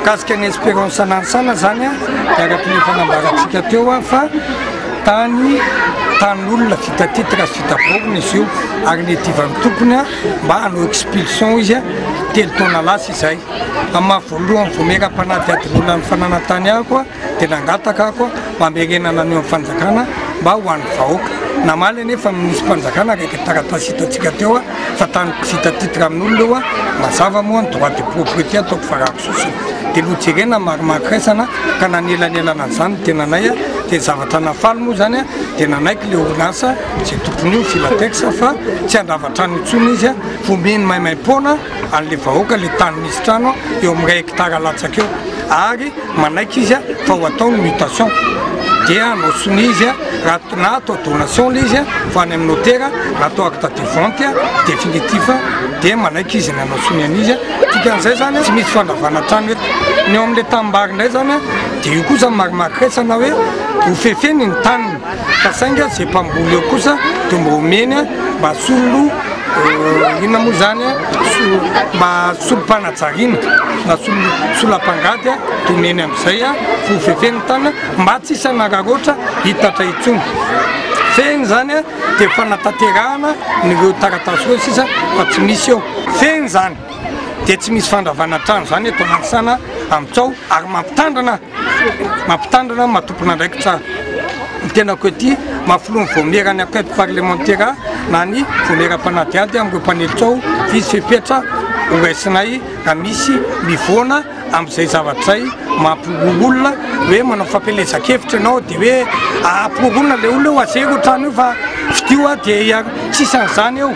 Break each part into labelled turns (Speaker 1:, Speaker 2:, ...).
Speaker 1: Mikasika ny Espérance Nansana zany a, dia araka ny efa nambarantsika teo a fa tany tanin'olona vita titre sy vita borne izy io ary nedivan'ny tompony a mba hanao expulsion izy a telo taona lasa izay. Amin'ny maha voalohany vao miera-panadihadiana olona ny fananantany ahy koa dia nangataka aho koa mba hamerenana an'io fanjakana mba ho an'ny vahoaka. Namaly anefa ny minisitrim-panjakana araka ny taratasy hitantsika teo fa tany vita titre amin'olona io mazava moa ny droit de propriété ataoko varahako sosona. Dia nojerena ny marimarika iraisana ka nanelanelana an'izany ny tenanay dia ny zavatra nahafaly moa izany dia nanaiky ilay orinasa izay tompon'io Filatex fa tsy handrava trano intsony izy fa omeny maimaim-poana an'ilay vahoaka ilay tany misy trano eo amin'ny iray hectare latsaka eo ary manaiky izy fa ho atao ny mutation dia hanao sonia izy raha na atao donation ilay izy fa any amin'ny notera na atao acte de vente définitif dia manaiky izy ny hanao sonia an'izy dikan'izay zany tsy misy fandravana trano eto ny eo amin'ilay tanimbary indray zany dia io kosa marimaritra na hoe hofefeny ny taniny Ka saingy ze mpamboly eo kosa de mba omeny mba solon inona moa zany mba solom-panajariana na solam-pangady de omeny amizay ho fefeny tany mba tsy hisy hanararaotra hitatra intsony fehiny zany de fanatanterahana ny reo taratasy reo sisa fa tsy misy eo fehiny zany de tsy misy fandravana trano zany eto Nanisana amitsao ary mampitandrina mampitandrina, matompon'andraikitra ny tenako ety, mahafolony ny vaomiera any enquête parlementaire na ny vaomiera mpanadihady amin'ireo mpanilika ao, hisy fepetra horaisinay raha misy mivoana amin'izay zavatra izay mampihorohoro olona, hoe manao fampielezan-kevitra ianao dia hoe ampihorohoroana ilay olona eo, azero io trano io fa fidio dia tsisy an'izany eo.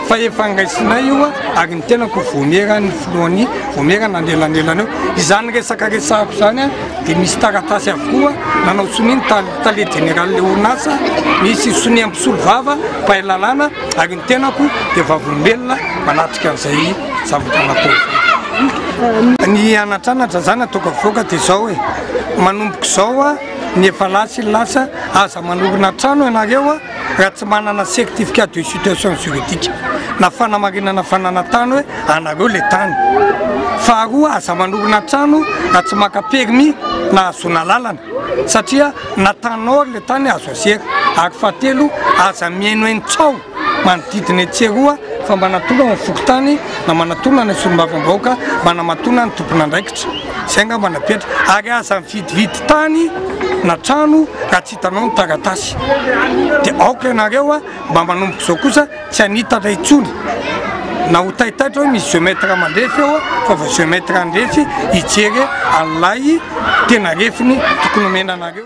Speaker 1: fa efa ngaisinay io ary ny tenako vomera ny filohan'ny vomera na nelanelana eo izany resaka resako zany a dia misy taratasy avokoa nanao sonia ny tale jeneraly le orinasa misy sonia mpisolo vava mpahay lalàna ary ny tenako dia vavolombelona manatrika an'izay zavatra natao ny anatranatra zany ataoko avoaka dia zao hoe manomboko zao a ny efa lasa lasa aza manorina trano ianareo a raha tsy manana certificat de situation juridique na fanamarinana fananantany hoe anareo le tany faharoa aza manorina trano raha tsy maka permis na hahazoana lalana satria na tany or le tany azo asera ary fahatelo aza mihainohaino tsao manodidina etsy eroa fa mba natona ny fokontany na manatona ny solombavam-bahoaka mba namatona ny tompon'andraikitra zay nga mba napetra ary aza mividividy tany na trano raha tsy Hitanao ny taratasy dia aoka ianareo mba manomboka izao kosa tsy hanitatra intsony na ho taitaitra hoe misy géomètre mandrefy eo fa vao géomètre handrefy hijery an'ilay tena refiny tokony omena anareo.